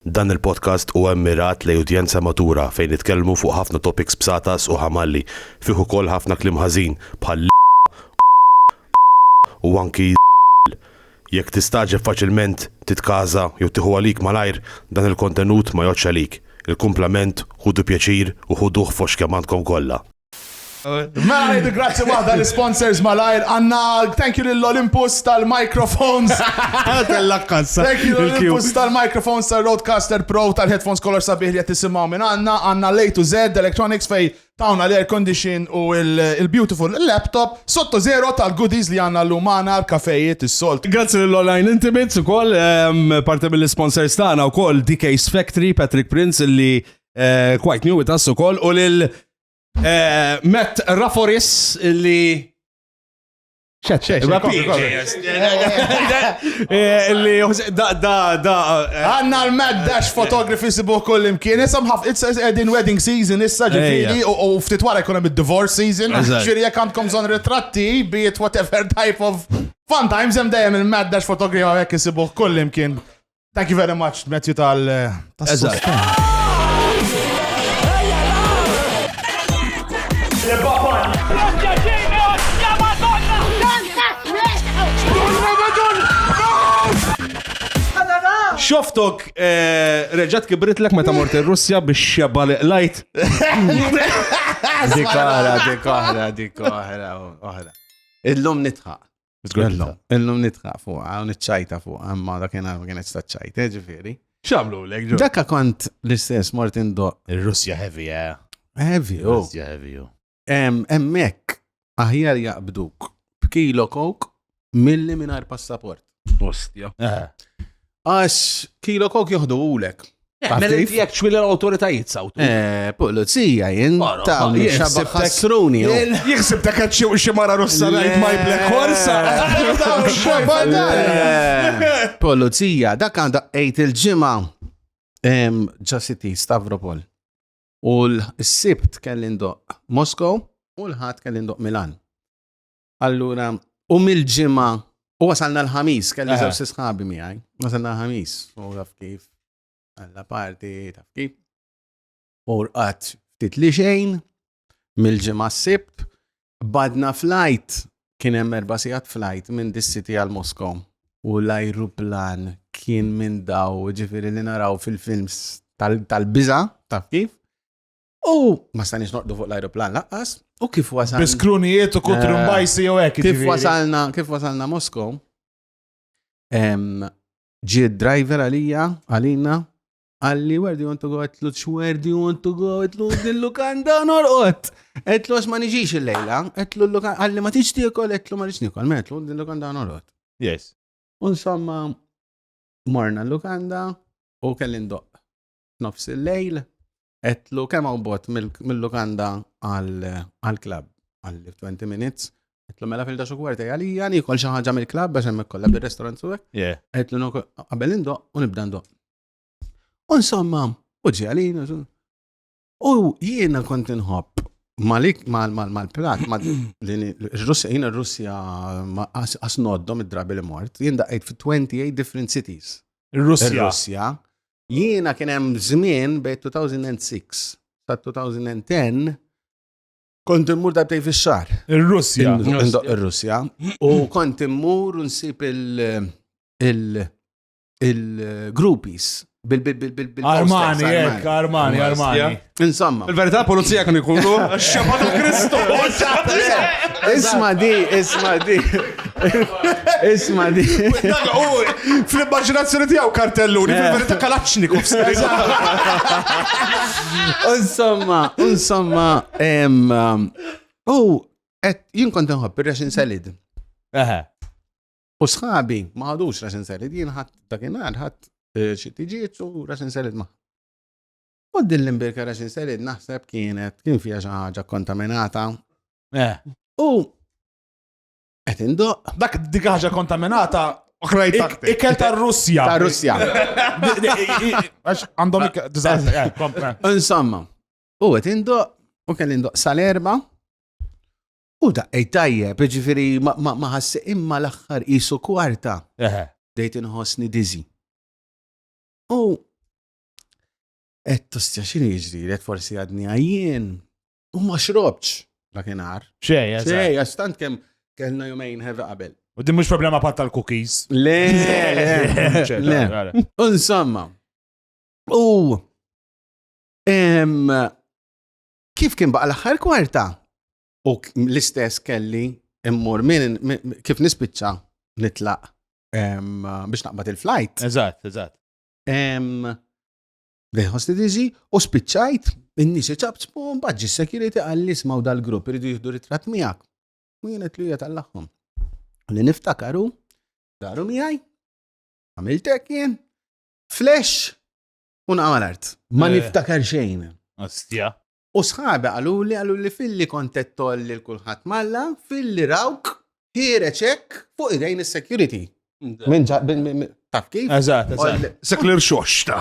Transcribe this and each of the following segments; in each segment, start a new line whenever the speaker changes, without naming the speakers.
Dan il-podcast huwa mmirat lejn udjenza matura fejn nitkellmu fuq ħafna topics bsatas u ħamalli, fih ukoll ħafna kliem ħażin bħal l, u anki l. Jekk tistagħġeb faċilment, titkaża jew tieħu għalik malajr, dan il-kontenut ma jgħoddx għalik. Il-kumplament ħudu pjaċir u ħuduh fost kemm għandkom kollha. Mela
jiddi grazzi waħda l-sponsors malajr għanna thank you lill-Olympus tal-microphones. Kellak kassa. Thank you lill-Olympus tal-microphones tal-Roadcaster Pro tal-headphones kolor sabiħ li qed tisimgħu minn għandna għandna lej to Z Electronics fej tawna l-air condition u il-beautiful laptop sotto zero tal-goodies li għandna l-lum għandna l-kafejiet is-solt. Grazzi lill-Online
Intimates ukoll ehm, parti mill-sponsors tagħna wkoll DK's Factory Patrick Prince li eh, Quite New With Us ukoll u lil eh, Matt Raforis li
Għanna l-Mad Dash Photography sibuħ kull imkien. Issa mħaf, edin wedding season issa ġifiri u ftit wara jkun hemm divorce season. Ġifiri jekk għandkom zon ritratti, be it whatever type of fun times hemm dejjem il-Mad Dash Photography għek isibuħ kull imkien. Thank you very much, Matthew tal.
Xoftok eh, reġat kibritlek meta mort ir-Russja biex xebba li lajt. Dik
oħra, dik oħra, dik oħra, oħra. Illum nitħaq. Zgurello. Illum nitħaq fuqa, u nitċajta fuqa, imma dak jena ma kienet sta ċajta, eh, ġifiri. Xamlu l ġo.
Dakka kont
l-istess Martin Do. Il-Russja heavy, eh.
Heavy, u. Oh. Russja
heavy, u.
Oh. Emmek,
aħjar jaqbduk b'kilo kok milli minar passaport. Ostja. Eh. Għax kilo kok joħduhulek. Eh, Taf Mela kif? jekk
ċwila l-awtoritajiet sawtu. Eh, Pulizija
jien Mara, ta' ma- jien xabba sibtek- ħassruni. u- Jien- Jiksib dak għad
xi- xi mara russa Le. ngħid my black horse. Eh,
Pulizija, dak għandha għejt il-ġimgħa em, ġa City Stavropol. U l-sibt kelli ndoq Moskow u l-ħadd kelli ndoq Milan. Allura, u mill-ġimgħa u wasalna l-ħamis, kelli żewġ sisħabi miegħi. Wasalna l-ħamis, u taf kif għalla parti, taf kif. U rqat ftit li xejn mill-ġimgħa s-sibt, badna flajt kien hemm erba' sigħat flajt minn dis-city għal Moskow. U l-ajruplan kien minn daw, ġifieri li naraw fil-films tal-biża, taf kif? U ma stanix noqdu fuq l-ajruplan laqqas, u kif wasalna. Biskrunijiet u kutru eh,
mbajsi u hekk. Kif wasalna, kif wasalna
Moskow, ġi driver għalija, għalina, għalli, where do you want to go? Għetlu, where do you want to go? Għetlu, dil-lukanda norqot. Għetlu, għax ma nġiġ il-lejla. Għetlu, għalli ma tiġ tiekol, għetlu ma nġiġ nikol. Għetlu, dil-lukanda norqot. Yes.
Unsomma,
morna l-lukanda u kellin doq. Nofs il-lejl, Etlu kemm hawn bot mill-lukanda għall-klabb għal 20 minutes. Etlu mela fil daxu kwarti għalija nikol xi ħaġa mill-klabb għax hemmhekk kollha bir-restaurant suwek. Etlu nokol qabel indoq u nibda ndoq. U insomma, u ġialin, u jiena kont inħobb malik mal-plat, l-Russja, jien il-Russja asnoddom id-drabi li mort, jien daqqajt fi 28 different cities. Il-Russja. Jiena kien hemm żmien bejn 2006 sa 2010 kont immur darbtej fix-xahar. Ir-Russja.
Ir-Russja.
U kont immur u nsib il- il-groupies bil-bil-bil-bil.
Armani, armani, armani. Insomma.
Il-verità pulizija
kan ikunu xeba ta' Kristu.
Isma di, isma di. Isma di.
Fl-immaginazzjoni tiegħu kartellu, li fil-verità eh. kalaċniku. Insomma,
insomma, um, u et jien kont nħobb ir-resin salid. U sħabi ma ħadux resin salid, jien ħadd dakinhar ħadd eh, xi tiġiet u resin salid ma' U din l-imbirka ta' xi serid naħseb kienet kien fiha xi ħaġa kontaminata. Eh. U qed indoq. Dak dik ħaġa
kontaminata Ikel ta' Russja. Ta' Russja. Għandhom eh, Insomma,
u għet indo, u kell indo sal-erba, u da' ejtajje, ġifiri ma ħassi imma l-axħar jisu kwarta. Dejt inħosni dizi. U Et tostja xini jiġri, et forsi għadni għajjien. U ma xrobċ, la kienar. Xej, xej,
għastant kem
kellna jumejn heavy qabel. U din mux problema pat
tal-cookies. Le, le,
le. Insomma. U. Kif kien baqa l-axħar kwarta? U l-istess kelli immur minn kif nispiċċa nitlaq biex naqbad il-flight. Eżatt, eżatt. Lejn ħosti diżi u spiċċajt in-nies iċabċbu mbagħad ġi security għalli ismaw dal-grupp iridu jieħdu ritratt miegħek. U jien qed li hija tal-aħħom. Li niftakaru daru miegħi għamiltek jien flash u naqgħu l-art. Ma niftakar xejn. Ostja.
U sħabi
qaluli, qaluli filli kont qed toll lil kulħadd malla, filli rawk ħiereġ hekk fuq idejn is-security. Minn ġa- minn- minn- minn- taf kif? Eżatt, eżatt.
Seklir
xoxta.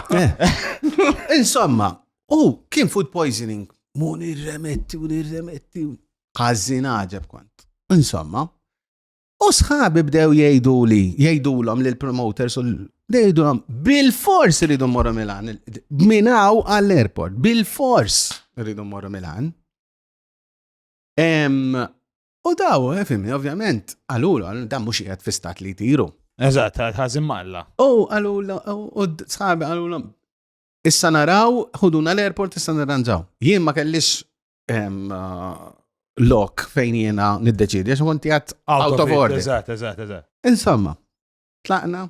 Insomma, u kien food poisoning. Mu nirremetti u nirremetti. Għazzin għaġeb kont. Insomma, U sħabi bdew jgħidu li, jgħidulhom li l-promoters u jgħidulhom bil-fors rridu morru Milan, minaw għall-airport, bil-fors rridu morru Milan. U daw, eh, fimni, ovvjament, għalulu, dan mux jgħed fi stat li tiru. Eżat, ħazim
malla. U għalulu,
u sħabi għalulu, issa naraw, ħuduna l-airport, issa naranġaw. Jien ma kellix uh, lok fejn jiena niddeċidi, għax konti għat out of order. Eżatt, eżatt, eżatt.
Insomma,
tlaqna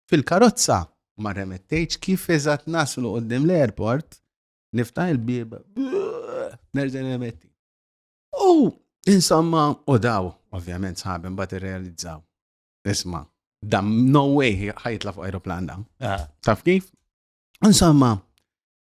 fil-karozza ma remettejċ kif eżatt naslu qoddim l-airport, nifta il-bib, nerġa' remetti. U insomma, u daw, ovvjament sħabem bat realizzaw. Isma, dam no way ħajtla fuq aeroplan dam. Ah. Taf kif? Insomma,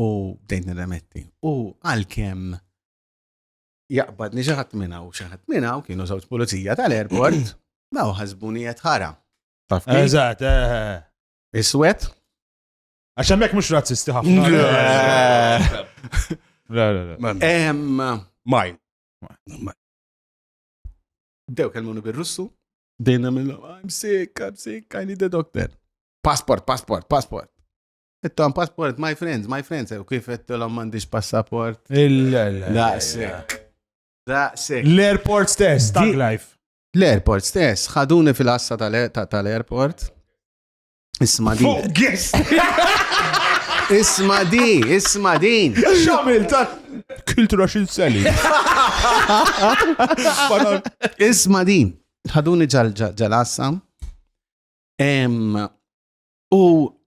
u bdejt nirremetti. U għalkemm jaqbad niġaħat minna u xaħat minna u kienu żewġ pulizija tal-airport, daw ħasbuni qed ħara. Eżatt, eh, eh,
eh.
Iswed?
Għax hemmhekk mhux razzisti ħafna. La la la.
Maj.
Dew kelmuni bir-Russu, dejna mill I'm sick, I'm sick, I need a doctor. Passport, passport, passport. Tom passport, my friends, my friends, u kif għettilom mandiġ passaport. Daqsek. Daqsek. L-airport stess,
tag life. L-airport stess,
ħaduni fil-assa tal-airport. Isma di. Isma di, isma din. Xamil ta'
kultura xin seli.
Isma din. ħaduni ġal-assa. U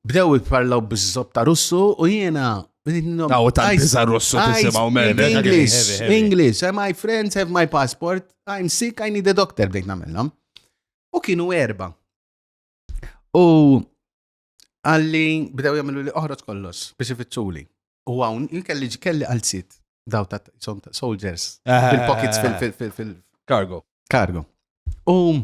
bdew jitparlaw bizzop ta' russu u jiena Taw ta'
biza russu tisimaw minn English, English,
eh, my friends have my passport, I'm sick, I need a doctor, bdejt namillom. U kienu erba. U għalli bdew jagħmlu li oħroġ kollox biex ifittxuli. U hawn kelli kelli għal sit daw ta' soldiers eh, fil-pockets eh, eh, fil-cargo. Cargo. U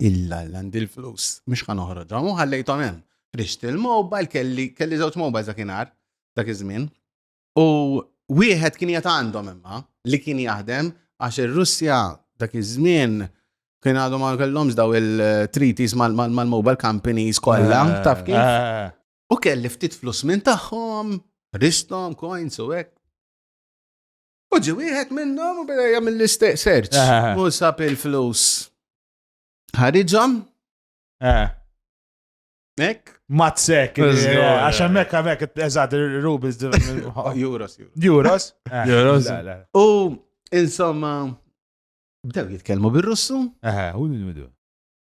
Illa illa għandi l-flus, mhux ħa noħroġhom u ħallejthom hemm. Rixt il-mobile kelli kelli żewġ mobile dakinhar dak iż-żmien. U wieħed kien jgħat għandhom imma li kien jaħdem għax ir-Russja dak iż-żmien kien għadhom ma kellhomx daw il-treaties mal-mobile companies kollha, eh, taf kif? Eh. U kelli ftit flus minn tagħhom, ristom, coins u hekk. U ġi wieħed minnhom u beda jagħmel l-istess search. Eh. U sab il-flus. Ħariġhom? Eh. Ek? Mazzek,
eh, għax hemmhekk hemmhekk eżatt rubles Euros. Euros? Euros.
U
insomma bdew jitkellmu bir-Russu. Aha, u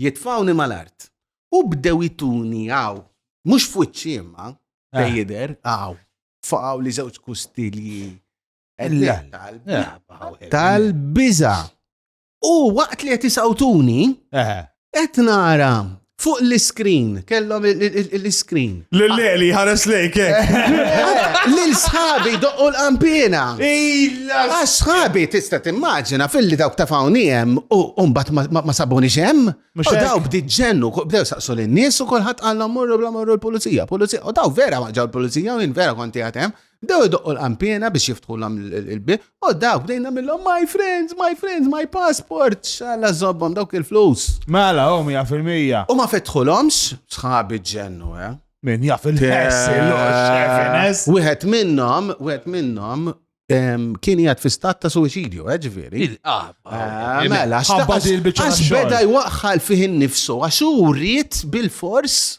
Jitfgħuni mal-art. U bdew ituni hawn, mhux f'wiċċi imma, fejn jidher, hawn, faqgħu li żewġ kustilji. Tal-biża. U waqt li qed isawtuni, qed nara fuq l-iskrin, kellhom l-iskrin. L-leli ħares
lejk, eh?
Lil sħabi doqqu l-qampina. Illa! Għax sħabi tista' timmaġina fil-li dawk ta' fawni hemm u mbagħad ma sabuni xem. U daw bdiet ġennu, bdew saqsu lin-nies u kulħadd qallhom morru bla morru l-pulizija, pulizija. U daw vera ma ġew l-pulizija u jien vera konti għatem. Bdew idoqqu l-qanpiena biex jiftħulhom il-bib, u dawk bdejn nagħmilhom my friends, my friends, my passport, xalla żobbhom dawk il-flus. Mela, hom hija
fil-mija. U ma fetħulhomx,
sħabi ġennu, eh? Min jaf
il-ħess, il-ħess. Wieħed
minnhom, wieħed minnhom kien jgħat fi stat ta' suicidju, eh, ġviri. Ah, eh, mela, għax beda jwaqħal fih nifsu, għax u rrit bil-fors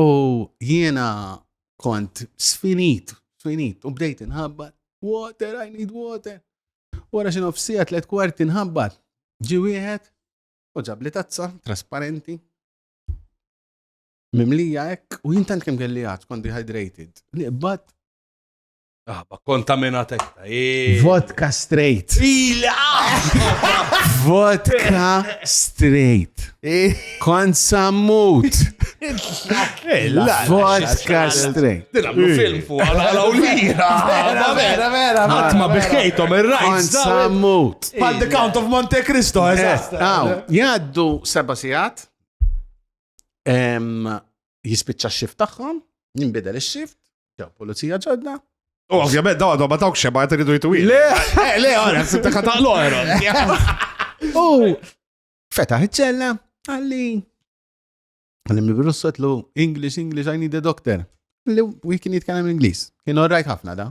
U jiena kont sfinit, sfinit, u bdejt inħabbat, water, I need water. Wara xi nofsija tliet kwarti nħabbat, ġi wieħed u ġab li tazza trasparenti. Mimlija hekk u jintant kemm kelli għad, kont dehydrated. Niqbad Ah, ma kontaminat
ekta. eh. Vodka
straight. Vodka straight. Kont sammut. Vodka straight. Dilablu film fuq
għala għala u lira. Vera,
vera, vera. Għatma biħkejtom
il-rajt. Kont sammut.
Pal The Count of
Monte Cristo, eżatt. Aw, jaddu
seba sijat. Em, jispiċċa x-xift tagħhom, jinbidel ix-xift, ġew pulizija ġodda. U ovvjament dawn
għadhom ma dawk xeba qed iridu jitwi. Le, eh, le, għara,
sibta kataqlu għara.
U fetaħ iċ-ċella, għalli. Għalli mill-virus sotlu, English, English, I need a doctor. Li u kien jitkellem Ingliż. Kien orrajt ħafna da.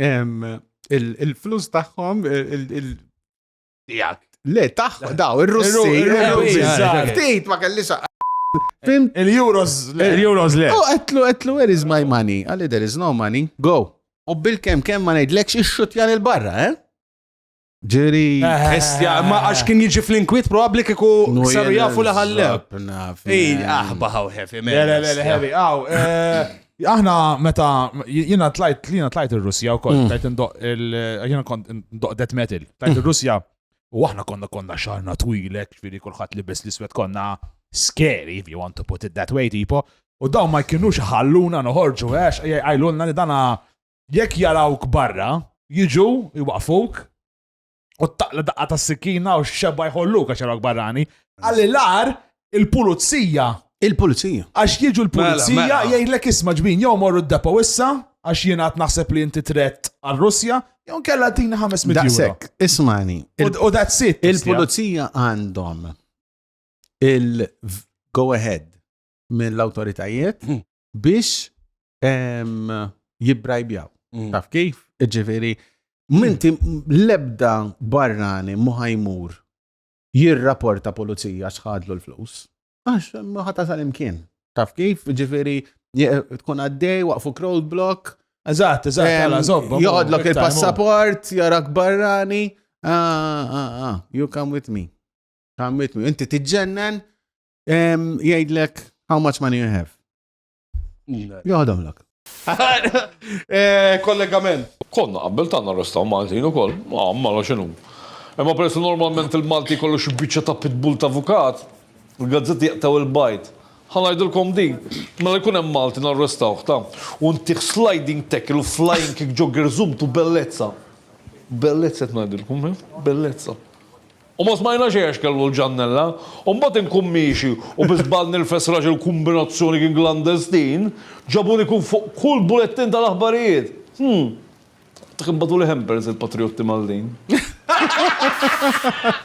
il-flus tagħhom Le, taħ, daw, il-Russi, il-Russi, tejt ma kellix. Il-Euros,
il-Euros le. U għetlu, għetlu,
where is my money? Għalli, there is no money, go. U bil-kem, kem ma nejdlekx ix-xutjan il-barra, eh? Ġeri. Estja,
ma għax kien jiġi fl-inkwit probabli kiku saru jafu li ħalleb. Ej, aħba ħaw heavy, man. Le, le, le, heavy, għaw.
Eh, aħna meta jiena tlajt jiena tlajt ir-Russja wkoll, mm. tlajt indoq il jiena kont indoq death metal, tlajt ir-Russja u aħna konna konna xarna twilek, ġifieri kulħadd libes l-iswed konna scary if you want to put it that way tipo. U dawn ma jkinux ħalluna noħorġu għax jgħajlulna li dana Jekk jarawk barra, jiġu, jwaqfuk, u taqla daqqa ta' sikkina u xebba jħolluk għax jarawk barrani. Għalli l-ar, il-pulizija. Il-pulizija.
Għax jiġu
l-pulizija mela, mela. jgħidlek isma' ġbin jew morru d-depo issa għax jien għad naħseb li inti tret għal-Russja, jew kella tina 500 euro. Daqsek, ismani.
U that's it.
Il-pulizija
għandhom il-go ahead mill-autoritajiet hmm. biex jibbrajbjaw. Mm. Taf kif? Ġifiri, minti lebda barrani muħajmur jirraporta pulizija xħadlu l-flus. Għax, muħata sal-imkien. Taf kif? Ġifiri, tkun għaddej, waqfu crowd block. Eżat, eżat,
għala, zobba. Jodlok il-passaport,
jarak barrani. Ah, ah, ah, you come with me. Come with me. Inti tiġġennen, Jgħidlek, how much money you have? Joħdom lak. Eh,
kollegament. Konna qabbel ta'
narrestaw Maltin u koll, ma' mara xinu. Imma peress normalment il-Malti kollu xibbiċa ta' pitbull ta' avukat, il-gazzetti jaqtaw il-bajt. Ħanajdilkom din, mela jkun hemm Malti narrestaw ta' u ntih sliding tackle u flying kick ġo gerżum tu bellezza. Bellezza qed ngħidilkom, eh? bellezza. U ma smajna xejn għax kellu l-ġannella. U mbagħad inkun miexi u bi żball nilfes raġel b'kumbinazzjoni kien klandestin, ġabuni kien fuq kull bulettin tal-aħbarijiet. Hm. Dak imbagħtuli hampers il-patrijotti Maltin.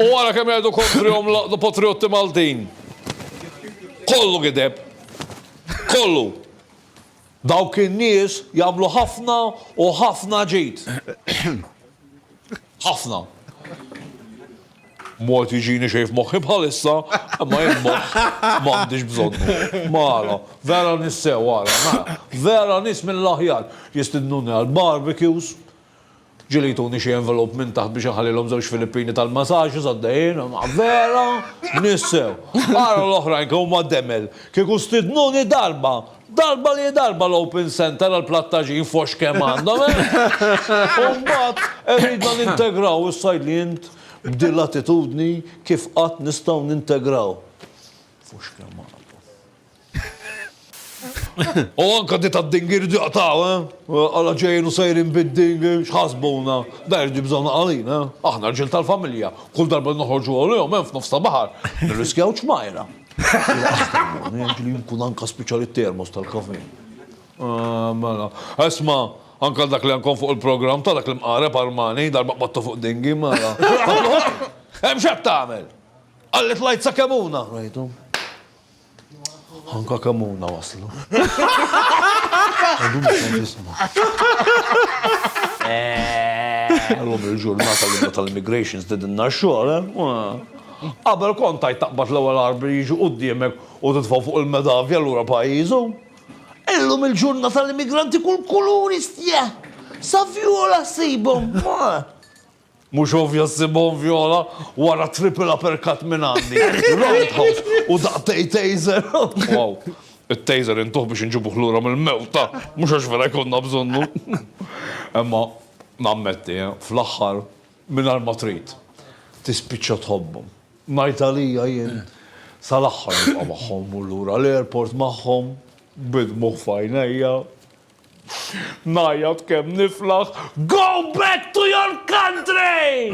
U ara kemm jgħidu kontrihom l-patrijotti Maltin. Kollu gideb. Kollu. Dawk in-nies jagħmlu ħafna u ħafna ġid. Ħafna. Mort jiġini xejn f'moħħi bħalissa, imma jien moħħ m'għandix bżonnu. Mara, vera nissew għara, mara. Vera nis mill-aħjar jistidnuni għal barbecues, ġili jtuni xie envelop minn taħt biex nħallilhom żewġ Filippini tal-massaġġ għaddejjin, vera nissew. Għara l-oħrajn kemm huma demel, kieku stidnuni darba Darba li darba l-Open Centre għall-Plattaġin f'Għoxx kemm għandhom, eh? U mbagħad iridna nintegraw is-Sajdlijin b'din l-attitudni kif qatt nistgħu nintegraw f'Għoxx kemm għandhom. U anke di tad-dingir irid jaqtgħu, eh? Alla ġejjin u sejrin bid-dingir, x'ħasbuna? Dan irid jibżgħuna għalina, eh? Aħna rġiel tal-familja, kull darba li noħorġu għalihom hemm f'nofs ta' baħar, nirriskjaw ċmajra. Jgħidli jkun anka speċjali termos tal-kafe. Ah, mela. Esma, anka dak li għankon fuq il-programm ta' dak l-imqareb Armani, darba qbattu fuq dingi, mela. Hemm x'qed tagħmel? Qalli tlajt sa Kemuna. Rajthom. Anka Kemuna waslu. Għadu mhux qed jisma'. Illum il-ġurnata l-imma tal-immigration stedinna x-xogħol, eh? Qabel kont tgħid taqbad l-ewwel għarb li jiġi quddiemek u titfgħu fuq il-medavja lura pajjiżu. Illum il-ġurnata l-immigranti kull kulur istieħ. Sa vjola ssibhom. Mhux ovvja ssibhom vjola wara triple uppercut minn għandi, roundhouse u daqtej taser. Wow. It-taser intuh biex inġibuh lura mill-mewta, mhux għax vera jkollna bżonnu. Imma nammetti, fl-aħħar Mingħajr ma trid, tispiċċa tħobbhom. Ngħid għalija jien, sal-aħħar nibqa' magħhom immur lura l-airport magħhom, bid-dmugħ f'għajnejja, ngħajjat kemm niflaħ, Go back to your country!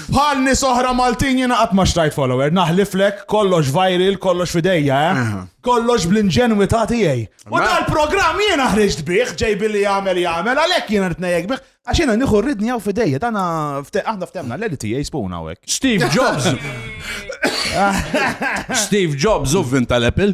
Bħal nies oħra Maltin jiena qatt ma xtrajt follower, naħliflek kollox viral, kollox fidejja, eh? Kollox bl-inġenwità tiegħi. U Mela. dal-programm jiena ħriġt bih, ġej billi jagħmel jagħmel, għalhekk jiena rid nejjek bih. Għax jiena nieħu rridni hawn fidejja, dana fte- aħna ftemna l-edit tiegħi spuna hawnhekk. Steve Jobs.
Steve Jobs u vin tal-Apple.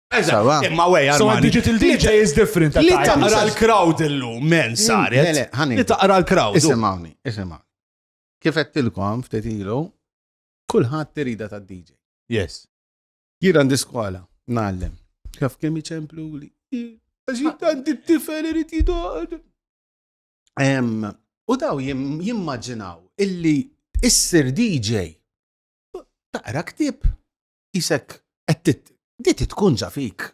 Sawa. Imma
wej, So Armani. digital DJ
is different. Li at times. taqra l-crowd illum,
men saret. Le, le, ħanin. Li taqra l-crowd. Isimawni, isimawni.
Kif għettilkom ftit ilu, kulħadd tirida ta' DJ. Yes.
Jir għandi
skola, nallem. Kif kemm iċemplu li. Għaxit għandi t-tifel irrit jidoqad. Em, U daw jim- jimmaġinaw illi issir DJ taqra ktib. isek qed di tkun ġa fik.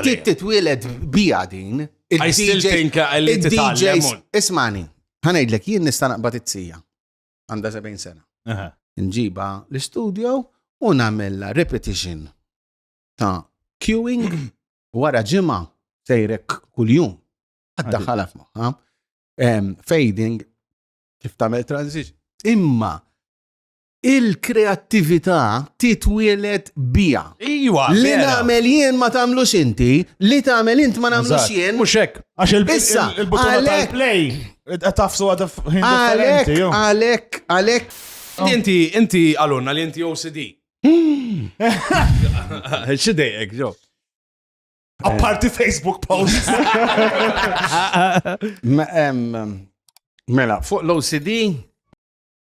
Di titwieled bija din. I still think
li titgħallem. Ismani,
ħanejdlek jien nista' naqbad it-sija. Għandha 70 sena. Nġiba l-istudio u nagħmilha repetition ta' queuing wara ġimgħa sejrek kuljum. Għadda ħalaf maħħa. Fading kif tagħmel transition. Imma il-kreattività titwielet bija. Iwa, li
nagħmel
jien ma tagħmlux inti, li tagħmel int ma nagħmlux jien. Mhux hekk, għax
il-butuna
tal-play qed
tafsu għad Għalek, għalek, għalek.
Oh. Inti,
inti għalunna li inti OCD. Hmm. Xidejek, ġo.
Apparti Facebook post.
Mela, fuq l-OCD,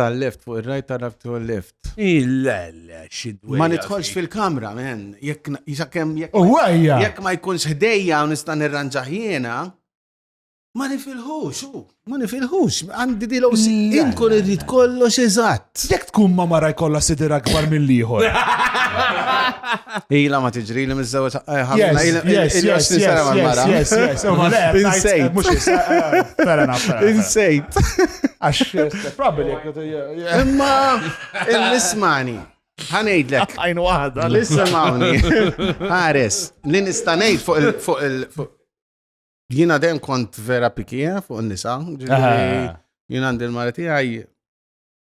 Tal-left, fuq ir-right tara fuq il-left. Il-le,
xidwe. Ma nidħolx fil-kamra,
men. Jekk jisakem jekk. Uwajja! Jekk ma jkunx ħdejja u nista' nirranġaħ jiena, ma nifilħux, u. Ma nifilħux, għandi di l-OC. Inkun irrid kollox eżatt. Jekk tkun ma mara
jkollha sidir akbar mill-ieħor.
Ila ma tiġri li mizzawet ħamna. Yes,
yes, yes, yes, yes. Insejt. Mux fair enough. Insejt. Għax,
probably. Imma, il-nismani. Ħanejdlek. Għajnu għada.
L-ismani.
Għares, li nistanejt fuq il- fuq il- fuq Jina dem kont vera pikija fuq il-nisa. Jina għandil marati għaj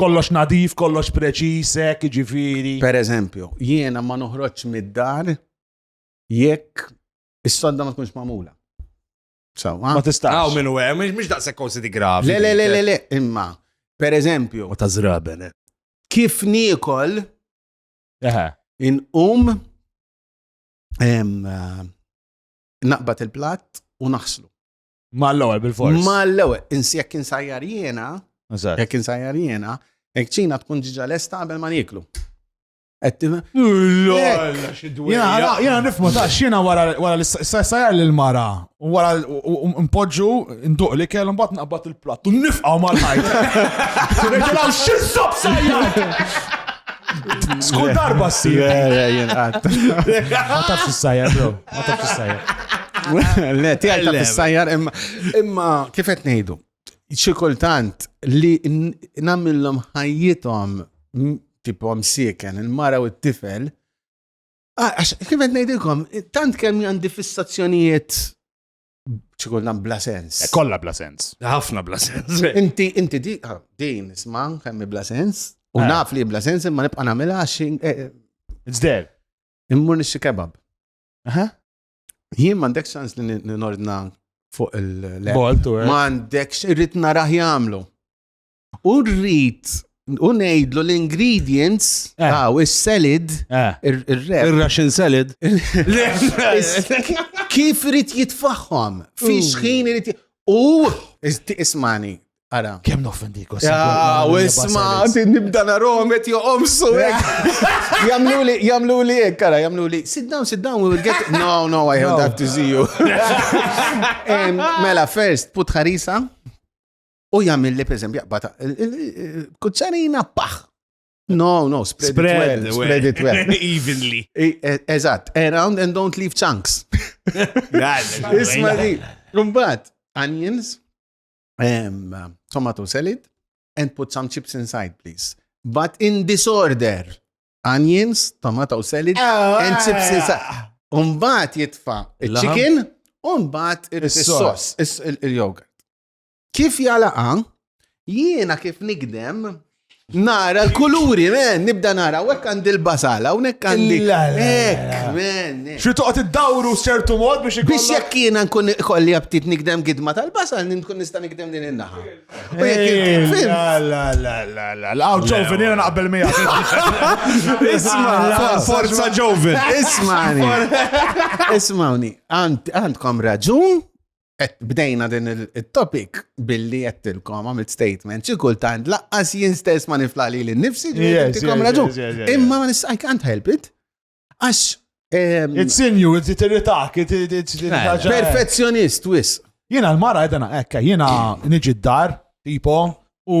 Kollox nadif,
kollox preċis, hekk jiġifieri. Per eżempju,
jiena ma noħroġx mid-dar jekk is-sodda ma tkunx magħmula. Saw,
Ma tistax. Għaw minn u għem, mux daqsek
kosi di gravi. Le, le, le, le, le, imma,
per eżempju, U ta' zraben. eh.
kif
nikol Eħe. inqum em, eh, naqbad il-platt u naħslu. Ma l-ewwel
bil-fors. Ma l-ewwel, insi jekk
insajjar jiena, jekk insajjar jiena, jekk ċina tkun ġiġa lesta qabel ma nieklu.
Jena nifmu ta' xina wara l-sajjar l-mara, wara mpoġġu nduq li kellu mbagħad naqbad il-platt u nifqaw mal-ħajt. Reġgħu x'insob sajjar! Skull darba s-sir. Għataf s-sajja, bro. Ma taf fissajjar. Le, tijaj ta'
fissajjar imma kifet nejdu. ċikultant li namillom ħajjitom tipo msieken, il-mara u t-tifel. Ah, għax, kifet nejdilkom, tant kemm għandi fissazzjonijiet ċikultant bla sens. Eh, kolla bla sens.
ħafna bla sens.
Inti, inti di,
ah, din, isma, kemmi bla sens. U eh. naf li bla sens, imma nibqa namela għax. Eh, It's
there. Immur nixi
kebab. Aha. Jien m'għandek sans li nordna fuq il-lep. Boltu, eh. M'għandek
irrid
naraħ jagħmlu. U rrid u ngħidlu l-ingredients eh. ta' is-salad, eh. ir-rep. Ir-Russian salad. Kif irid jitfaħħom? Fi xħin irid U ismani, Ara. Kem noffendiku. Ja,
u isma,
nibda naromet joqomsu. Jamlu li, jamlu li ek, kara, jamlu li, sit down, sit down, we will get, no, no, I have that to see you. Mela, first, put ħarisa, u jamil li, per esempio, jaqbata, kuċċarina, paħ, No, no, spread, spread it well. Spread it well. Evenly.
E, e, eżatt,
around and don't leave chunks. Isma di, kumbat, onions, um, tomato salad and put some chips inside, please. But in disorder, onions, tomato salad ah, and chips inside. Umbat jitfa il-chicken, umbat il-sos, il-yogurt. Kif jalaqa, jiena kif nigdem, Nara l-kuluri, men, nibda nara, u hekk għandi l-basal, hawnhekk għandi. Hekk, men.
Xi toqgħod iddawru ċertu mod biex ikun. Biex jekk jiena nkun
kolli aptit nikdem gidma tal-basal, nkun nista' nikdem din in-naħa. U jekk La la la
la la. Għaw ġovin jiena naqbel miegħek. Isma'
forza ġovin. Isma'ni.
Isma'ni. Għandkom raġun bdejna din il-topic billi jettilkom għamilt statement, xi kultant laqqas jien stess ma nifla li l-nifsi ġietkom raġun. Imma I can't help it. Għax. Ehm, it's
in you, it's irritak, it's Perfezzjonist,
wis. Jena l-mara għedana
ekka, jena niġi d-dar, tipo, u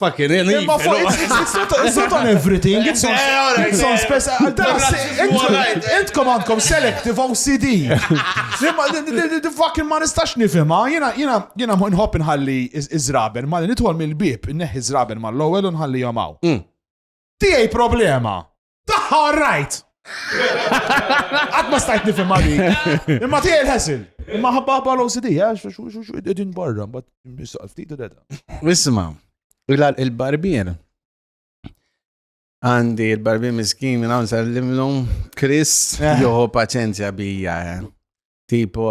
Fucking hell, Imma fuq, it's, it's, it's, not, it's
not on everything, it's on, eh, it's on special. Intkom għandkom selective OCD. The fucking ma nistax nifima, jena, jena, jena nħobb nħalli izraben, ma nitwal mill-bib, neħi izraben ma l-lowel nħalli jomaw. Mm. Tijaj problema. Taħħa all right! Għad ma stajt nifim għadi. Imma tijaj il-ħesil. Imma ħabba ħabba l-OCD, għax xu xu xu id-din barra, bat nisqal ftit u deda. Isma,
il-barbier. Għandi il-barbier miskin minn għan sallimlum, Chris, eh. joħu paċenzja bija. Eh. Tipo,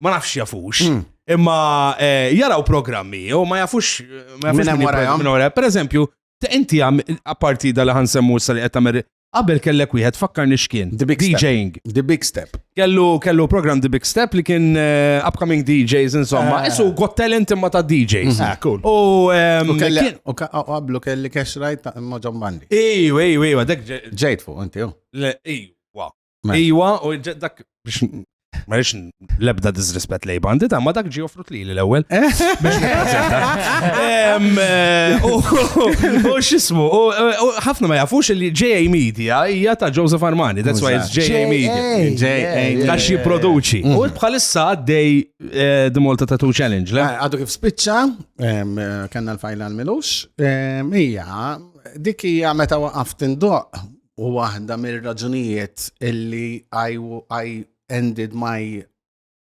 ma nafx jafux. Hmm. Imma eh, jaraw programmi, u ma jafux. Eh, minn hemm
wara. Per eżempju,
inti għam, apparti dal ħan semmu s li għettamer, qabel kellek wieħed fakkar nixkien. The Big DJing. The Big Step.
Kellu, kellu program
The Big Step li kien eh, upcoming DJs, insomma. Isu got talent imma ta' DJs. Hmm. Ah, cool. U
ehm, kelli,
u qablu
kelli cash right ta' Moġon Bandi. Iju, iju, iju, għadek
ġejt fuq, inti, ju.
Iju. Mela. Iwa,
u ġ- dak biex ma rridx l-ebda disrespett lej bandi ta' ma dak ġi offrut li l-ewwel. Biex nippreżenta. Em, eh, u- U x'ismu, u- u ħafna ma jafux li JA Media hija ta' Joseph Armani, that's why it's JA Media. J.A. Għax jipproduċi. U bħalissa għaddej eh, The Malta Tattoo Challenge, le? Ah, Għadu kif spiċċa,
em, eh, kanna l-fajla l-milux, em, hija, dik hija meta waqaf tindoq, u waħda mir-raġunijiet illi I, I ended my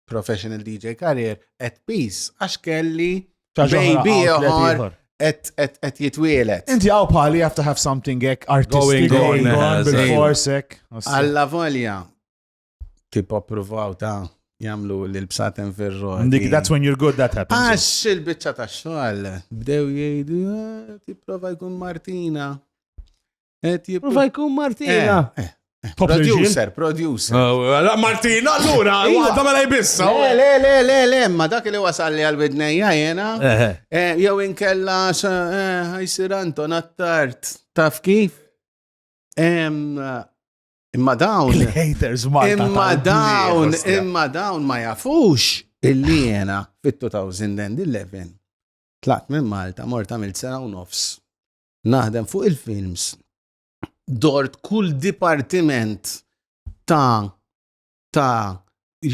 professional DJ career at peace għax kelli baby ieħor et jitwielet. Inti għaw bħali you have to
have something ek artistic going on bil-forsek. Alla volja,
tipo provaw ta' jamlu l-bsaten ferro. Dik, that's when you're good,
that happens. Għax il-bicċa ta'
xogħol, bdew jgħidu, ah, ti prova jkun Martina.
Prova jkun Martina. Eh, eh, eh, producer,
producer.
Oh, Martina, allura, għadda mela jbissa. Oh. Le, le, le, le,
ma dak li wasal li għal-bidnejja jena. Jow inkella ħajsir Anton attart. Taf kif? Imma dawn. Haters Malta. Imma
dawn,
imma dawn ma jafux illi jena fit-2011 tlaqt minn Malta mort għamilt sena u nofs naħdem fuq il-films, dort kull dipartiment ta' ta'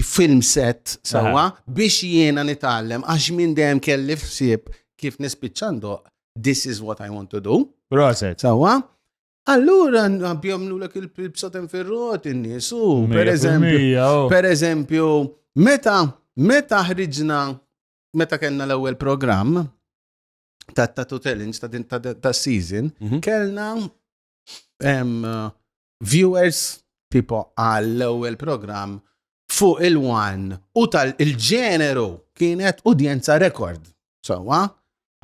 film set sawa biex jiena nitgħallem għax minn dejjem kelli fsib kif nispiċċandu this is what I want to do. Proset. Sawa? Allura nabjomlu l il-psatem ferrot in-nies u per eżempju, oh. per eżempju, meta meta ħriġna meta kellna l-ewwel programm, ta' ta' to challenge ta' din ta' season, mhm. kellna viewers tipo għall ewwel program fuq il-one u tal-ġeneru kienet udjenza rekord. Sawa,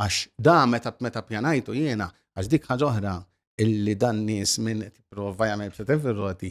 għax da meta meta pjanajtu jiena, għax dik ħaġoħra illi dan nies minn prova jagħmel b'setem fir-roti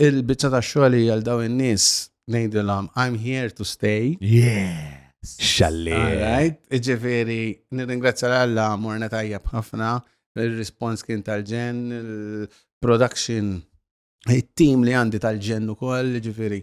Il-biċċa ta' xogħli għal daw in-nies ngħidilhom I'm here to stay. Yeah.
Xalli.
Alright,
ġifiri, nirringrazzja l-Alla, morna tajjeb ħafna, il-respons kien tal-ġen, il-production, il-team li għandi tal-ġen u koll, ġifiri,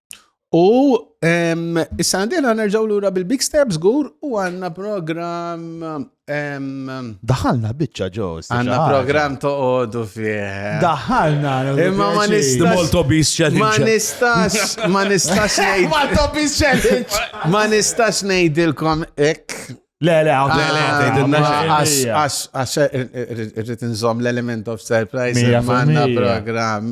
U issa għandina nerġaw lura bil-Big Steps gur u għanna program.
Daħalna bicċa ġos. Għanna program
toqodu fieħ. Daħalna.
Imma ma nistax.
Molto bis
challenge.
Ma
nistax, ma
nistax nejd. Molto bis challenge.
Ma nistax
nejdilkom ek. Le, le, għaw, le,
le, għaw, għax,
għax, għax, irrit nżom l-element of surprise, manna program.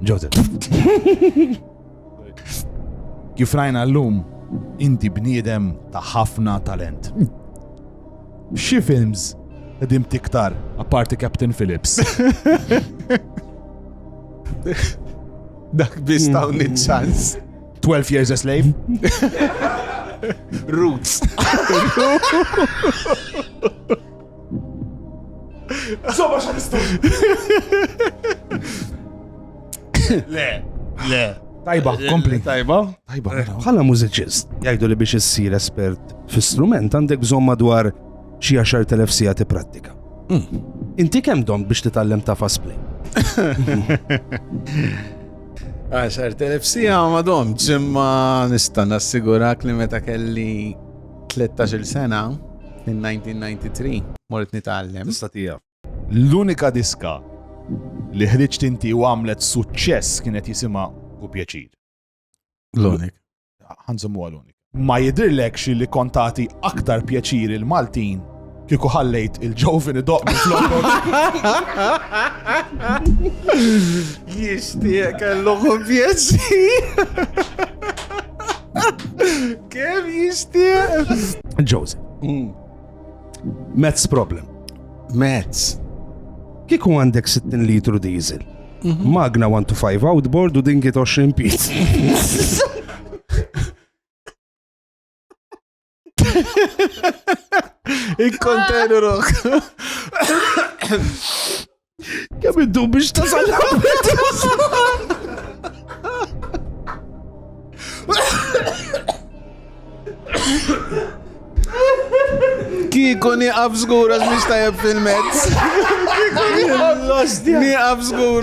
Joseph. Kif rajna l-lum, inti bniedem ta' ħafna talent. Xi films qegħdin tiktar apparti Captain Phillips.
Dak biss ta' ċans. 12 years a
slave.
Roots.
Zoba xaristu! Le, le. Tajba, eh, kompli. Tajba. Tajba,
eh. mela, bħala mużiċist, jgħidu li biex issir espert fi strument għandek bżonn madwar xi 10,000 sija tipprattika. Hmm. Inti kemm dom biex titgħallem ta' fast play?
10,000 sija ma domx, imma nista' nassigurak li meta kelli Tlettax-il sena, in 1993, mort nitgħallem. Tista' tieqaf.
L-unika
diska li ħriġt inti u għamlet suċċess kienet jisimha Hu Pjaċir. L-unik.
Ħa
nżommuha l-unik. Ma jidhirlekx li kont tagħti aktar pjaċir il-Maltin Kieku ħallejt il-ġovin idoq minn flokok.
Jishtiq kellu kumpjessi. Kem jishtiq? Joseph.
Mm. Mets problem. Mets.
Kieku
għandek 60 litru diesel. Mhm. Magna 1 to 5 outboard u din 20 piz.
Inkontenu rok.
Kemm iddu biex tasal
Kiku niqaf zgur għax biex tajab fil-mezz. Kiku niqaf zgur.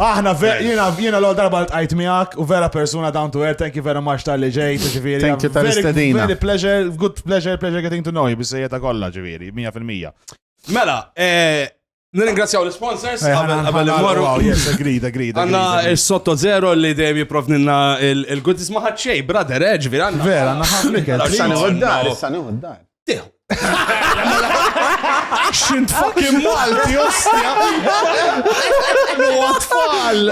Aħna ver, jiena jiena l darba l tqajt miegħek u vera persuna down to earth, thank you very much tal-li ġej, ġifieri. Thank you tal-istedina.
Very pleasure, good
pleasure, pleasure getting to know you, bissejja ta' kollha ġifieri, 100%. Mela,
eh, Nirringrazzjaw l-sponsors, eh, għabel l-morru. Oh, yes, agreed, agreed.
Għanna il-sotto
zero li dejjem jiprovninna il-goodies maħat xej, brother, eġvi, eh, għanna. Vera, għanna ħafna. Sani għoddar,
sani għoddar. Tiħu. Xint fucking Malti, ostja. Għatfall.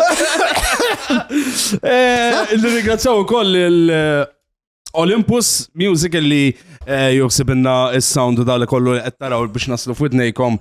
Eh,
Nirringrazzjaw ukoll il-Olympus eh, Music li eh, joksibinna il-sound u dal kollu li qed taraw biex naslu f'widnejkom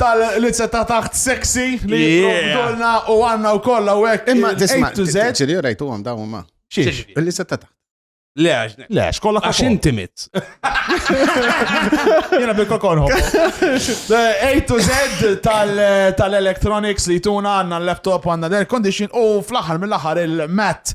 tal-lizza ta' taħt sexy li jiprovdulna u għanna u kolla u għek. Imma tisma,
ċiri u rajtu
għom dawn
ma. Xiex? Il-lizza ta'
taħt.
Le, le,
xkolla għax inti
mit. Jena bil kokon hop. A to Z tal-electronics li tuna għanna l-laptop għanna l-air condition u fl-axar mill-axar il-mat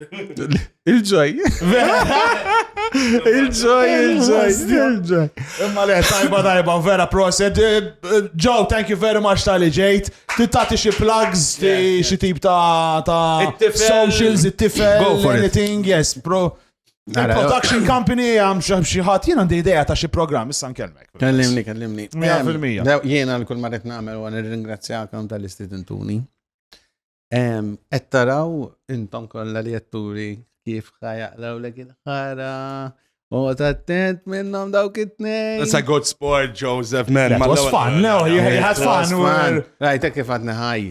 Il-ġoj. Il-ġoj, il-ġoj, il-ġoj. Imma le,
tajba, tajba, vera proset. Eh, eh, Joe, thank you very much tal-li ġejt. Tittati xie plugs, xie tip ta' socials, it-tifel, anything, yes, bro. Production company għam xaħat jena għandi ideja ta' xie program, issa nkelmek. Kellimni, kellimni.
100%.
Jena l-kull marret
namel u għan ringrazzjakom tal-istudentuni. Qed taraw intom kollha li jatturi kif ħajaqlaw lek il-ħara. U tattent minnom dawk it-tnejn. That's a good sport,
Joseph, man. That was fun, no,
you had fun. man. Rajta kif għadna
ħaj.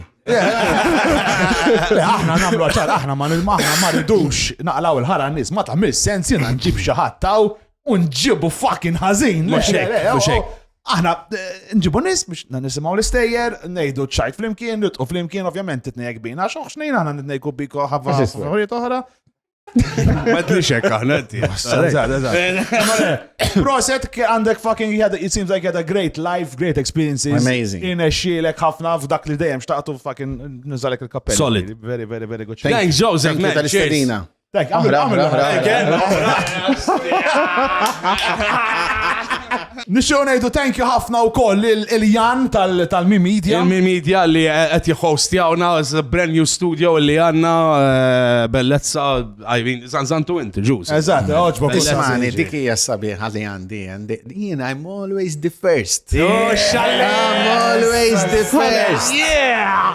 Aħna namlu għaxar, aħna ma nil-maħna ma ridux naqlaw il-ħara nis, ma ta' mis sens jina nġib xaħat taw u nġibu fucking ħażin. Mhux hekk, le, le, mhux hekk. oh,
Aħna
eh, nġibu nies biex na nisimgħu l-istejjer, ngħidu ċajt flimkien, nitqu flimkien, ovvjament titnejjek bina, xoħx nejn aħna nitnejku biko ħabba Eżistu. affarijiet oħra. Ma
tlix hekk aħna inti.
Proset ke għandek fucking you had- it seems like you had a great life, great experiences. Amazing. Inexxielek
ħafna
f'dak li dejjem xtaqtu fucking nżalek il-kappell. Solid. Very, very, very
good.
Thanks, Joseph, Thank you man. Cheers.
tal-istedina. Dak,
għamil,
għamil, Nixxu ngħidu thank you ħafna wkoll il-Jan tal-Mi Media. Il-Mi Media li
qed jħostjawna brand new studio li għandna eh, bellezza għajvin zanzantu inti ġuż. Eżatt, eh, oġbok.
Ismani, dik hija
sabiħa li għandi jien I'm always the first. Oh, I'm
always the
first. Yeah!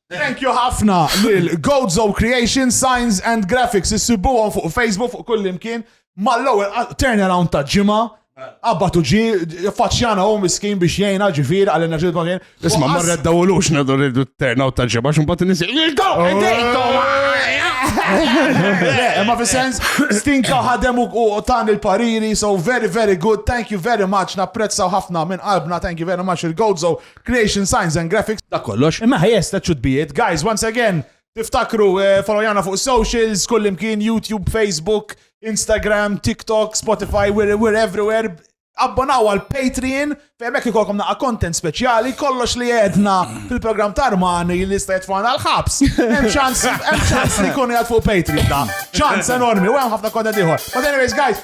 Thank you ħafna lil Gozo Creation Signs and Graphics issibuhom fuq Facebook fuq kull imkien mal-ewwel turnaround ta' ġimgħa Abbat u ġi, faċċjana u miskin biex jgħina ġifir għal enerġiet ma kien. Isma, marra d-dawlux
nadu rridu t-terna u t-ġeba, xum bat nisi.
Ma fi sens, stinka ħadem u tan il-pariri, so very, very good, thank you very much, napprezzaw ħafna minn qalbna, thank you very much il-Gozo Creation Signs and Graphics. Dak kollox. Imma ħajja
sta ċudbijiet.
Guys, once again, tiftakru eh, followjana fuq socials, kullimkien, YouTube, Facebook, Instagram, TikTok, Spotify, we're, we're everywhere abbonaw għal Patreon fejn hekk ikolkom naqa' content speċjali kollox li għedna fil-programm ta' Armani li sta jitfana l-ħabs. Hemm ċans hemm ċans li jkun jgħid fuq Patreon da. Ċans enormi u hemm ħafna content ieħor. But anyways guys,